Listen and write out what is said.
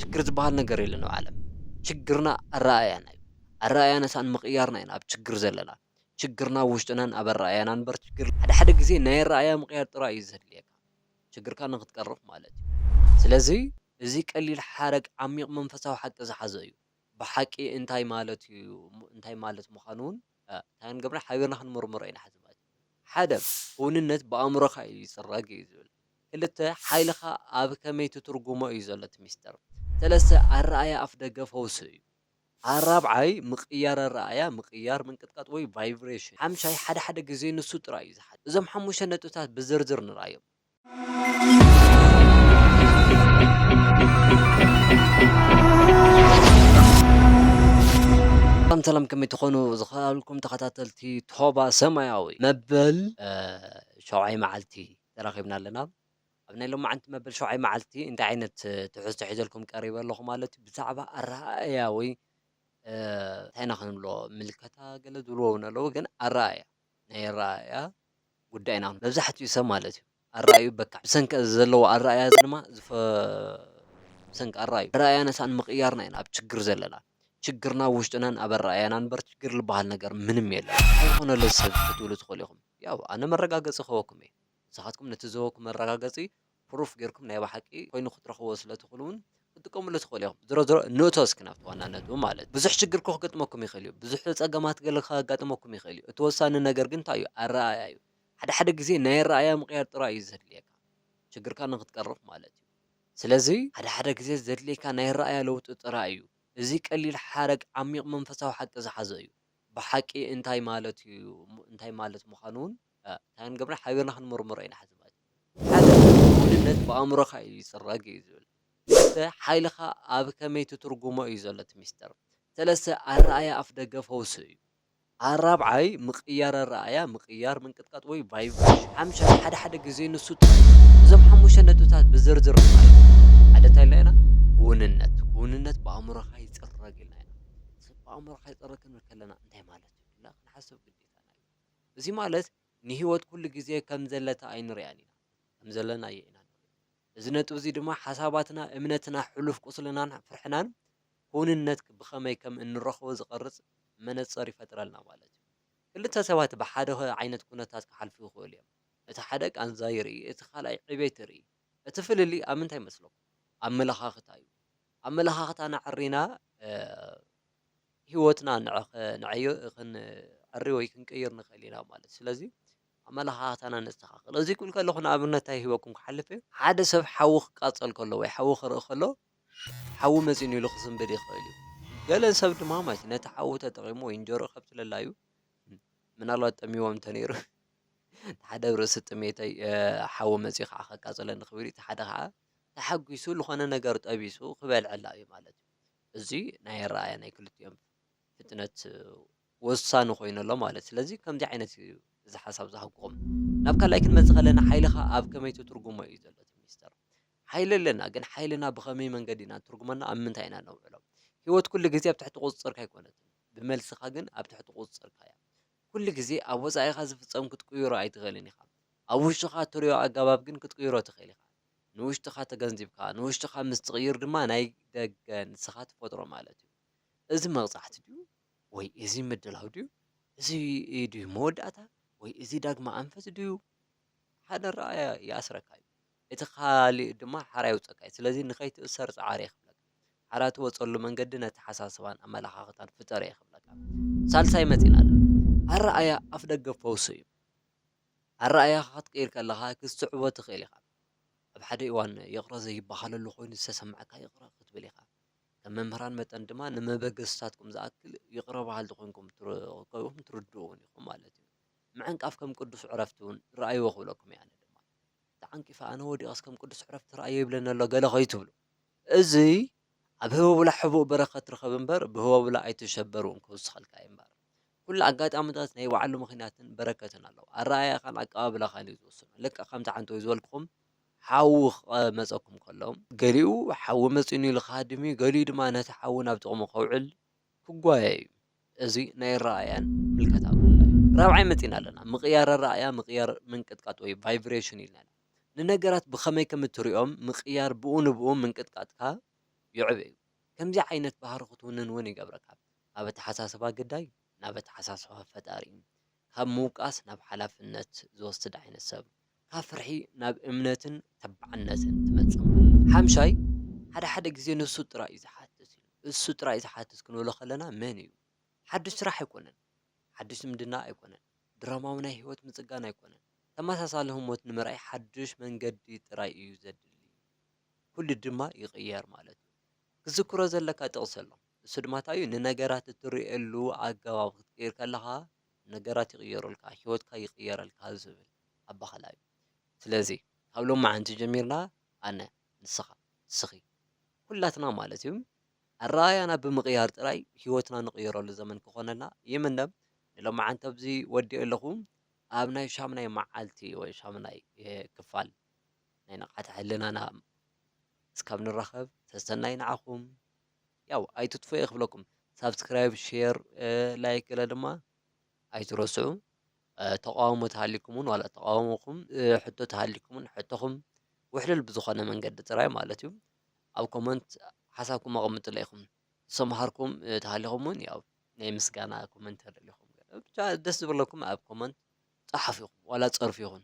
ሽግር ዝባሃል ነገር የለን ኣብ ዓለም ሽግርና ኣረኣእያና እዩ ኣረኣእያናሳ ንምቕያርና ኢና ኣብ ሽግር ዘለና ሽግርና ኣብ ውሽጥናን ኣብ ኣረኣእያና እምበር ሽግር ሓደ ሓደ ግዜ ናይ ኣረኣእያ ምቕያር ጥራይ እዩ ዘድልየካ ሽግርካ ንኽትቀርፍ ማለት እዩ ስለዚ እዚ ቀሊል ሓረግ ዓሚቕ መንፈሳዊ ሓቂ ዝሓዘ እዩ ብሓቂ እንታይ ማለት እዩ እንታይ ማለት ምዃኑ እውን እንታይ ክንገብር ሓቢርና ክንምርምሮ ኢና ሕዚ ማለት እዩ ሓደ ክውንነት ብኣእምሮኻ እዩ ዝፅረግ እዩ ዝብል ክልተ፣ ሓይልኻ ኣብ ከመይ ትትርጉሞ እዩ ዘሎ እቲ ሚስጥር። ሰለስተ፣ ኣረኣእያ ኣፍደገ ፈውሲ እዩ። ኣራብዓይ፣ ምቕያር ኣረኣእያ፣ ምቕያር፣ ምንቅጥቃጥ ወይ ቫይብሬሽን። ሓምሻይ፣ ሓደ ሓደ ግዜ ንሱ ጥራይ እዩ ዝሓድር። እዞም ሓሙሽተ ነጥብታት ብዝርዝር ንርኣዮም። ሰላም ሰላም ከመይ ትኾኑ ዝኸኣልኩም ተኸታተልቲ ቶባ ሰማያዊ መበል ሸውዓይ መዓልቲ ተራኺብና ኣለና። ኣብ ናይ ሎማዓንቲ መበል ሸውዓይ መዓልቲ እንታይ ዓይነት ትሕዝቶ ሒዘልኩም ቀሪበ ኣለኹ ማለት እዩ። ብዛዕባ ኣረኣእያ ወይ እንታይ ኢና ክንብሎ ምልከታ ገለ ዝብልዎ እውን ኣለዉ ግን ኣረኣእያ ናይ ኣረኣእያ ጉዳይ ኢና መብዛሕትኡ ሰብ ማለት እዩ ኣረኣእዩ በካዕ ብሰንኪ እዚ ዘለዎ ኣረኣእያ እዚ ድማ ብሰንኪ ኣረኣእዩ ኣረኣእያና ሳዕ ንምቕያርና ኢና ኣብ ችግር ዘለና ችግርና ውሽጥናን ኣብ ኣረኣእያና እምበር ችግር ዝበሃል ነገር ምንም የለን። እንታይ ኮነ ለዚ ሰብ ክትብሉ ትኽእሉ ኢኹም። ያው ኣነ መረጋገጺ ክህበኩም እየ ንስኻትኩም ነቲ ዝህበኩም መረጋገጺ ፕሩፍ ጌርኩም ናይ ብሓቂ ኮይኑ ክትረኽብዎ ስለ ትኽእሉ ውን ክትጥቀምሉ ትኽእሉ ኢኹም ዝሮ ዝሮ ንእቶ እስኪ ናብቲ ዋና ነጥቢ ማለት ብዙሕ ሽግር እኮ ክገጥመኩም ይኽእል እዩ ብዙሕ ጸገማት ገለ ከጋጥመኩም ይኽእል እዩ እቲ ወሳኒ ነገር ግን እንታይ እዩ ኣረኣእያ እዩ ሓደ ሓደ ግዜ ናይ ኣረኣእያ ምቕያር ጥራይ እዩ ዘድልየካ ሽግርካ ንኽትቀርፍ ማለት እዩ ስለዚ ሓደ ሓደ ግዜ ዘድልየካ ናይ ኣረኣእያ ለውጢ ጥራይ እዩ እዚ ቀሊል ሓረግ ዓሚቕ መንፈሳዊ ሓቂ ዝሓዘ እዩ ብሓቂ እንታይ ማለት እዩ እንታይ ማለት ምዃኑ እውን እንታይ ክንገብር ሓቢርና ክንምርምሮ ኢና ሕዚ ማለት እዩ። ሓደ ውህሉልነት ብኣእምሮኻ እዩ ዝጽረግ እዩ ዝብል ክልተ ሓይልኻ ኣብ ከመይ ትትርጉሞ እዩ ዘሎ እቲ ሚስጥር ሰለስተ ኣረኣእያ ኣፍደገ ፈውሲ እዩ። ኣራብዓይ ምቅያር ኣረኣእያ ምቅያር ምንቅጥቃጥ ወይ ቫይብሬሽን ሓምሻይ ሓደ ሓደ ግዜ ንሱ ጥራይ እዩ። እዞም ሓሙሽተ ነጥብታት ብዝርዝር ንማልእ ሓደ እንታይ ኢልና ኢና ክውንነት ክውንነት ብኣእምሮኻ ይጽረግ ኢልና ኢና። ክንሓስብ ኣእምሮ ከይጸሪ ክንብል ከለና እንታይ ማለት እዩ ኢልና ክንሓስብ ግዴታና እዩ። እዚ ማለት ንህይወት ኩሉ ግዜ ከም ዘለታ ኣይንርእያን ኢና፣ ከም ዘለና እየ ኢና ንርኢ። እዚ ነጥቢ እዚ ድማ ሓሳባትና፣ እምነትና፣ ሕሉፍ ቁስልናን ፍርሕናን ክውንነት ብኸመይ ከም እንረኽቦ ዝቐርጽ መነጽር ይፈጥረልና ማለት እዩ። ክልተ ሰባት ብሓደ ዓይነት ኩነታት ክሓልፉ ይኽእሉ እዮም። እቲ ሓደ ቃንዛ ይርኢ፣ እቲ ካልኣይ ዕቤት ይርኢ። እቲ ፍልልይ ኣብ ምንታይ መስለኩም? ኣመለኻኽታ እዩ። ኣመለኻኽታና ኣዕሪና ህይወትና ንዕዮ ክንዕሪ ወይ ክንቅይር ንኽእል ኢና ማለት እዩ። ስለዚ ኣመለኻኽታና ነስተኻኽል። እዚ ክብል ከለኹ ንኣብነት እንታይ ሂበኩም ክሓልፍ እየ፣ ሓደ ሰብ ሓዊ ክቃጸል ከሎ ወይ ሓዊ ክርኢ ከሎ ሓዊ መጺኡኒ ኢሉ ክስንብድ ይኽእል እዩ። ገለ ሰብ ድማ ማለት እዩ ነቲ ሓዊ ተጠቒሙ ወይ እንጀርኡ ከብቲ ለላዩ ምናልባት ጠሚዎም እንተነይሩ እቲ ሓደ ኣብ ርእሲ ጥሜተይ ሓዊ መጺኡ ከዓ ከቃጽለኒ ክብል እዩ፣ እቲ ሓደ ከዓ ተሓጒሱ ልኾነ ነገር ጠቢሱ ክበልዐላ እዩ ማለት እዩ። እዚ ናይ ኣረኣእያ ናይ ክልቲኦም ፍጥነት ወሳኒ ኮይኑ ኣሎ ማለት ስለዚ ከምዚ ዓይነት እዩ እዚ ሓሳብ ዝሃጉኹም ናብ ካልኣይ ክንመጽእ ከለና ሓይልኻ ኣብ ከመይ ትትርጉሞ እዩ ዘሎ እቲ ሚስጥር ሓይሊ ኣለና ግን ሓይልና ብኸመይ መንገዲ ኢና ትርጉመና ኣብ ምንታይ ኢና ነውዕሎ ህይወት ኩሉ ግዜ ኣብ ትሕቲ ቁጽጽርካ ኣይኮነትን ብመልስኻ ግን ኣብ ትሕቲ ቁጽጽርካ እያ ኩሉ ግዜ ኣብ ወጻኢኻ ዝፍጸም ክትቅይሮ ኣይትኽእልን ኢኻ። ኣብ ውሽጥኻ እትርእዮ ኣገባብ ግን ክትቅይሮ ትኽእል ኢኻ። ንውሽጥኻ ተገንዚብካ፣ ንውሽጥኻ ምስ ትቕይር ድማ ናይ ደገ ንስኻ ትፈጥሮ ማለት እዩ። እዚ መቕጻዕቲ ድዩ? ወይ እዚ ምድላው ድዩ? እዚ ድዩ መወዳእታ? ወይ እዚ ዳግመ ኣንፈት ድዩ? ሓደ ኣረኣእያ ይኣስረካ እዩ። እቲ ኻሊእ ድማ ሓራ የውጸካ እዩ። ስለዚ ንኸይትእሰር ጽዓር እየ ክብለካ። ሓራ ትወጸሉ መንገዲ ነተሓሳስባን ኣመለኻኽታን ፍጠር እየ ክብለካ። ሳልሳይ መጺና ኣለ። ኣረኣእያ ኣፍደገ ፈውሱ እዩ። ኣረኣእያኻ ክትቅይር ከለኻ ክትስዕቦ ትኽእል ኢኻ። ኣብ ሓደ እዋን ይቕረ ዘይበሃለሉ ኮይኑ ዝተሰምዓካ ይቕረ ክትብል ኢኻ። ከም መምህራን መጠን ድማ ንመበገስታትኩም ዝኣክል ይቕረ በሃልቲ ኮይንኩም ትርከቡን ትርድኡን ኢኹም ማለት እዩ። ምዕንቃፍ ከም ቅዱስ ዕረፍቲ እውን ረኣይዎ ክብለኩም እየ ኣነ። ተዓንቂፋ ኣነ ወዲቐስ ከም ቅዱስ ዕረፍቲ ትርኣዮ ይብለኒ ኣሎ ገለ ከይትብሉ እዚ ኣብ ህበቡላ ሕቡእ በረከት ርኸብ እምበር ብህበቡላ ኣይትሸበር ውን ክውስኸልካ እዩ እምበር ኩሉ ኣጋጣምታት ናይ ባዕሉ ምኽንያትን በረከትን ኣለዎ ኣረኣእያኻን ኣቀባብላኻን እዩ ዝውስኖ ልክዕ ከምቲ ዓንተወይ ዝበልክኹም ሓዊ ክመፀኩም ከሎ ገሊኡ ሓዊ መፂኡኒ ኢሉ ክሃድም እዩ ገሊኡ ድማ ነቲ ሓዊ ናብ ጥቕሙ ከውዕል ክጓየዩ እዚ ናይ ኣረኣእያን ምልከታን ጉዳይ እዩ። ራብዓይ መጺእና ኣለና፣ ምቕያር ኣረኣእያ፣ ምቕያር ምንቅጥቃጥ ወይ ቫይብሬሽን ኢልና ኢና። ንነገራት ብኸመይ ከም እትርእዮም ምቕያር ብኡ ንብኡ ምንቅጥቃጥካ ዩዕብ'ዩ። ከምዚ ዓይነት ባህሪ ክትውንን እውን ይገብረካ። ካብ ኣተሓሳስባ ግዳይ ናብ ኣተሓሳስባ ፈጣሪ። ካብ ምውቃስ ናብ ሓላፍነት ዝወስድ ዓይነት ሰብ። ካብ ፍርሒ ናብ እምነትን ተባዕነትን ትመጽእ። ሓምሻይ፣ ሓደ ሓደ ግዜ ንሱ ጥራይ እዩ ዝሓትት ኢሉ። እሱ ጥራይ ዝሓትት ክንብሎ ከለና መን እዩ? ሓዱሽ ስራሕ ኣይኮነን፣ ሓዱሽ ዝምድና ኣይኮነን፣ ድራማዊ ናይ ህይወት ምጽጋን ኣይኮነን፣ ተመሳሳሊ ህሞት ንምርኣይ ሓዱሽ መንገዲ ጥራይ እዩ ዘድሊ። ኩሉ ድማ ይቕየር ማለት እዩ። ክትዝክሮ ዘለካ ጥቕሲ ኣሎ፣ ንሱ ድማ እንታይ እዩ? ንነገራት እትርእየሉ ኣገባብ ክትቅይር ከለኻ ነገራት ይቕየሩልካ፣ ህይወትካ ይቕየረልካ ዝብል ኣበሃህላ እዩ። ስለዚ ካብ ሎምዓንቲ ጀሚርና ኣነ፣ ንስኻ፣ ንስኺ፣ ኩላትና ማለት እዩ፣ ኣረኣእያና ብምቕያር ጥራይ ህይወትና ንቕይረሉ ዘመን ክኾነልና ይምነ። ንሎምዓንቲ ኣብዚ ወዲኤ ኣለኹ። ኣብ ናይ ሻምናይ መዓልቲ ወይ ሻምናይ ክፋል ናይ ንቕሓተ ሕልናና እስካብ ንራኸብ ሰሰናዩ ንዓኹም ያው ኣይትጥፉ እየ ክብለኩም ሳብስክራይብ ሼር ላይክ ገለ ድማ ኣይትረስዑ ተቃውሞ ተሃሊኩምን ዋላ ተቃውሞኹም ሕቶ ተሃሊኩምን ሕቶኹም ውሕልል ብዝኾነ መንገዲ ጥራይ ማለት እዩ ኣብ ኮመንት ሓሳብኩም ኣቐምጥለ ኢኹም ዝሰምሃርኩም ተሃሊኹም እውን ያው ናይ ምስጋና ኮመንት ኣለኹም ብቻ ደስ ዝበለኩም ኣብ ኮመንት ጸሓፍ ኢኹም ዋላ ጸርፍ ይኹን